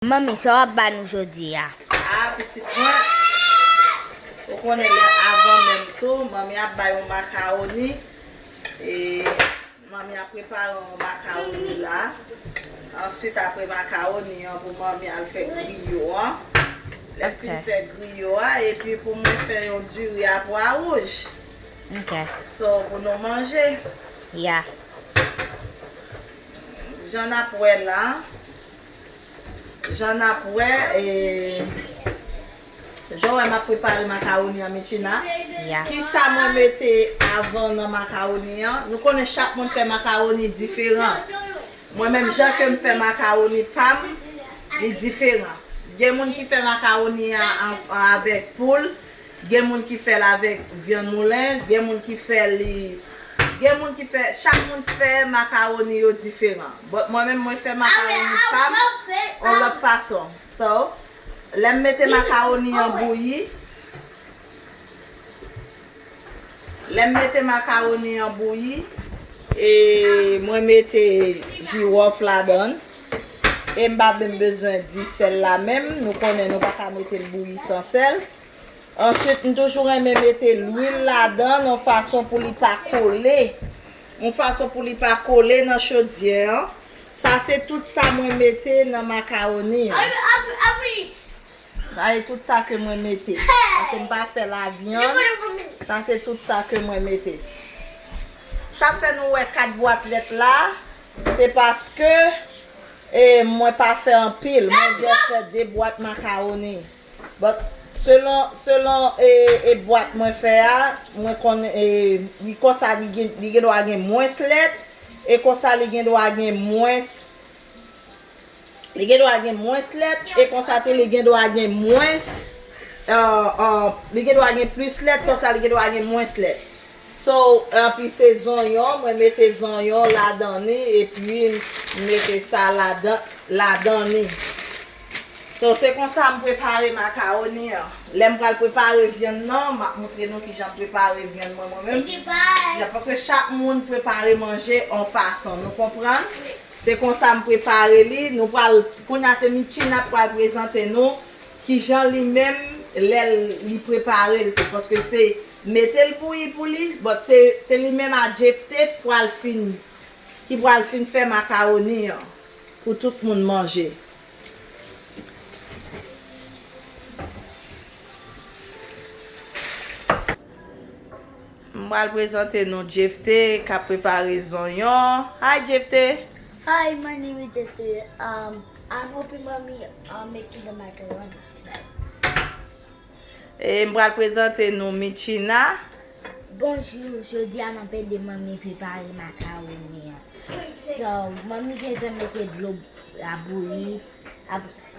Manmi sa wap ba nou jodi a. A pitit mwen ou konnen lè avan menm tou manmi ap bay yon makawoni e manmi ap prepare yon makawoni la answit apre makawoni an pou manmi al fè griyo an lèl fin fè griyo a epi pou mwen fè yon diri a pwa wouj so pou nou manje ya jan nap wè la Jan nap wè e Jan wè map prepare macaroni an Mitchina kisa mwen mete avan nan macaroni an nou konnen chak moun fè macaroni diferan mwen menm Jan kem fè macaroni pam li diferan gen moun ki fè macaroni an avèk poul Gen moun ki fèl avèk vyann moulen, gen moun ki fè li gen moun ki fè chak moun fè macaroni yo diferan but mwen menm mwen fè macaroni pam on lòt fason so lèm mete macaroni an bouyi lèm mete macaroni an bouyi e mwen mete jiwòf ladann em pa menm bezwen di sèl la menm nou konnen nou paka metel bouyi san sèl. Answit m toujou renmen mete lwil ladan yon fason pou li pa kole yon fason pou li pa kole nan chodyè an sa se tout sa mwen mete nan makaroni an sa se tout sa ke mwen mete paske m pa fè la vyann sa se tout sa ke mwen mete sa fè nou wè 4 bwat lèt la se paske e mwen pa fè anpil mwen jès fè 2 bwat makaroni. But selon selon e bwat mwen fè a mwen konn e li konsa li gen li gendwa gen mwens lèt e konsa li gendwa gen mwens li gendwa gen mwens lèt e konsa tou li gendwa gen mwens li gendwa gen plis lèt konsa li gendwa gen mwens lèt. So epi se zonyon mwen mete zonyon ladan ni epi m mete sa ladan ladan ni. So se konsa m prepare macaroni an. Lè m pral prepare vyann nan m ap moutre nou kijan m prepare vyann mwen mwen menm. Ya paske chak moun prepare manje on fason nou konprann. Se konsa m prepare li nou pral kounya se Mitchie n ap pral prezante nou kijan li menm lè li prepare l tou paske se Metel bouyi pou li but se se li menm a Jephte k pwal fin ki pwal fin fè macaroni an pou tout moun manje. M pral prezante nou Jephte kap prepare zonyon. Hi Jephte! Hi my name is Jephte um I'm hoping mommy um make me the macaroni tonight. E m pral prezante nou Mitchina. Bonjou, jodi a map ede manmi prepare makaroni an. So, manmi gentan mete dlo a bouyi,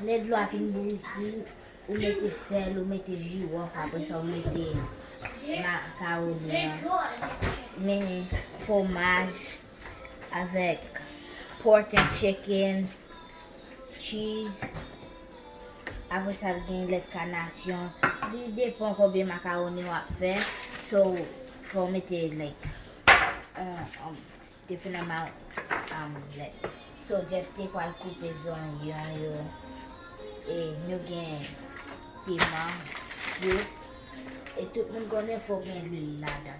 lè dlo a fin bouyi tou, ou mete sèl, ou mete jiwof apre sa ou mete makaroni an. Men fwomaj avèk pork and chicken. Cheese Apre sa l gen lèt kanasyon Li depan konbyen makaroni w ap fè So fò w mete like On different amount lèt So Jeff te pral koupe zonyon yo E nou gen piman Dous E tout moun konnen fò w gen lwil ladan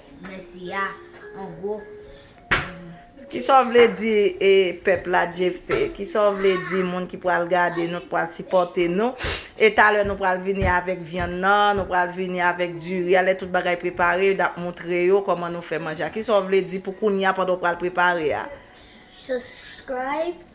Mèsi a an gwo. Kisa w vle di e pèp la Jephte? Kisa w vle di moun ki pral gade nou, ki pral sipòte nou? E talè nou pral vini avèk vyann nan, nou pral vini avèk diri a, lè tout bagay prepare n ap moutre yo kòman nou fè manje a. Kisa w vle di pou kounya pandan w pral prepare a? Subscribe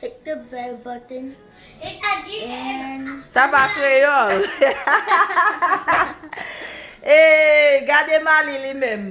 Hit the bell button and. Sa pa kreyol. Eeee gade Mali li menm.